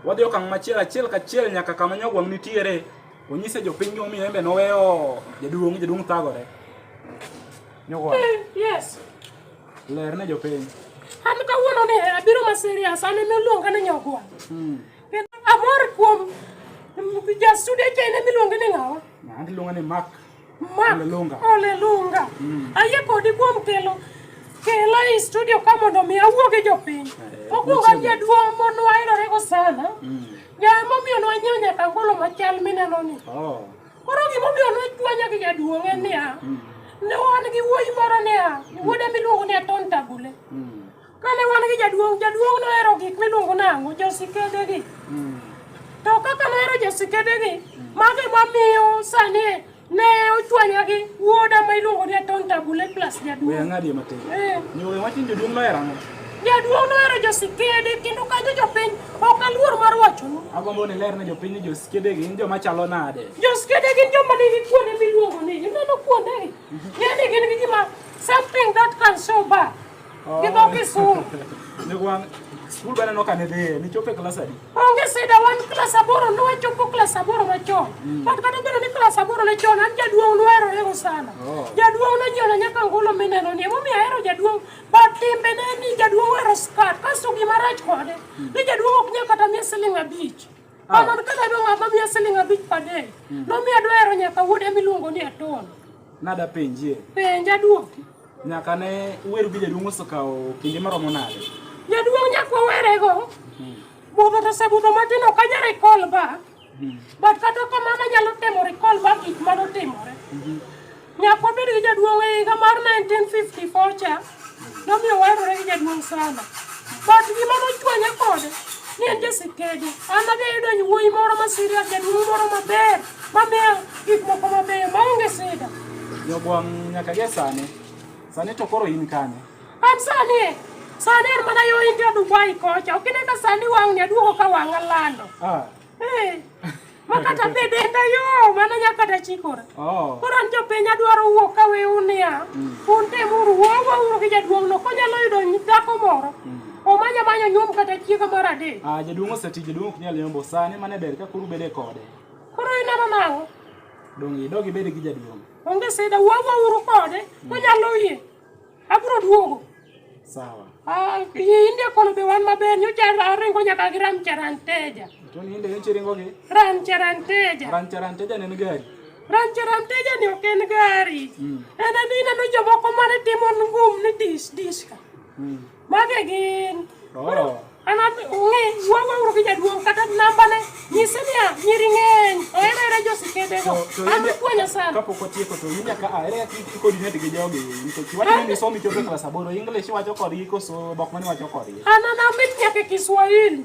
wadhi okang' machiel achiel kachiel nyaka kama nyogwang' nitiere onyise jopiny gimomiyo embe noweyo jaduong' jaduong' thagore nyogwang' eh, yes ler ne jopiny an kawuono ni abiro ma serious an ema iluonga ni nyogwang' hmm. kendo amor kuom jasudeche en ema iluonge ni ng'awa an iluonga ni mak Ma, olelunga. Olelunga. Mm. Ayie kodi kuom kelo kela e studio ka mondo mi awuo gi jopiny. Eh, Okuonga jaduong' mon waherore go sana. Mm. Jaa momiyo nwanyiewo nyaka angolo machal mineno ni. Oh. Koro gimomiyo nwachwanya gi jaduong' en niya. Mm. Ne wan gi wuoyi moro niya. Wuode miluongo ni Aton Tagule. Mm. Kane wan gi jaduong', jaduong' nohero gik miluongo nang'o josiketegi. Mm. To kaka nohero josiketegi, mm. mago ema miyo sani ne ochwanya gi wuoda ma iluongo ni Aton Tabule plus jaduong'. Weya ng'adi matin. Eh. Nyuwe wachin jaduong' nohero ang'o? Jaduong' nohero josikede kendo kanyo jopiny ok aluor mar wachonu. Agombo ni ler ne jopiny ni josikede gin joma chalo nade? Josikede gin joma nigi kuonde miluongo ni, ineno kuondegi? Mhm. Ng'e ni gin gi gima something that can show back. Gidhoki sum. Ne wan skul bana noka ne dhie, nichopo e klas adi? Onge sida wan klas aboro ne wachopo klas aboro machon. Mm. But kata bedo ni klas aboro ne chon, an jaduong' nohero ego sana. Oh. Jaduong' nojiona nyaka ngolo mineno ni, emomiyo ahero jaduong'. But timbe ne ni jaduong' ohero skat, kasto gima rach kode, mm. ni jaduong' ok nyal kata miye siling abich. Ah. Amon kata adwa ng'ama miya siling abich per day, mm. nomiyo adwa hero nyaka wuode miluongo ni Aton. Nada penjie. Penja duoki. Nyaka ne uweru gi jaduong' osekawo kinde maromo nade? Jaduong' nyaka wawerego. Hmm. Budho to osebudho matin ok anyal recall back. Hmm. But kata kamano anyalo temo recall back gik mane otimore. Hmm. Nyaka wabed gi jaduong' e higa mar 1954 cha nomiyo waherore gi jaduong' sana. But gima nochwanya kode ne en jasikede. An adhi ayudo wuoyi moro ma serious, jaduong' moro maber. Mabeyo, gik moko mabeyo maonge sida. Jogwang' nyaka gie sani. Sani to koro in kanye? An sani e. Sani an mana yo India Dubai kocha. Ok ine ka sani wang'ni aduogo ka wang'a lando. Ah. Eh. Ma kata be denda yo, mana nya kata chikora. Oh. Koro an jopiny adwaro wuok ka we unia. Mm. Un tem uru wuo wuo uru gi jaduong' no konyalo yudo dhako moro. Mm. Omanya manyo nyuom kata chiega mar adek. Ah, jaduong' oseti, jaduong' ok nyal yombo sani mane ber ka kuru bede kode. Koro ineno nang'o? Dong' idog ibed gi jaduong'. Onge sida, wuogo uru kode, hmm. onyalo yie. Abiro duogo. Sawa. Ah, inde kono be wan maber, nyocha aringo nyaka gi ram charanteja. To ni inde nyocha iringo gi? Ram charanteja. Ram charanteja ne gari. Ram charanteja ni ok en gari. Hmm. En ni ineno jomoko mane timo ngum ni dis dis ka. Hmm. Mage gin. Oh. Ana ng'e wuogo uru gi jaduong' kata nambane nyise niya nyiri ng'eny ohero hera josikendego an puonyo sana kapok otieko to in nyaka ahere kod net gi jogi nikech iwacho ni isomo ichopo e klas aboro English iwacho kodgi koso dhok mane iwacho kodgi an ana mit nyaka e Kiswahili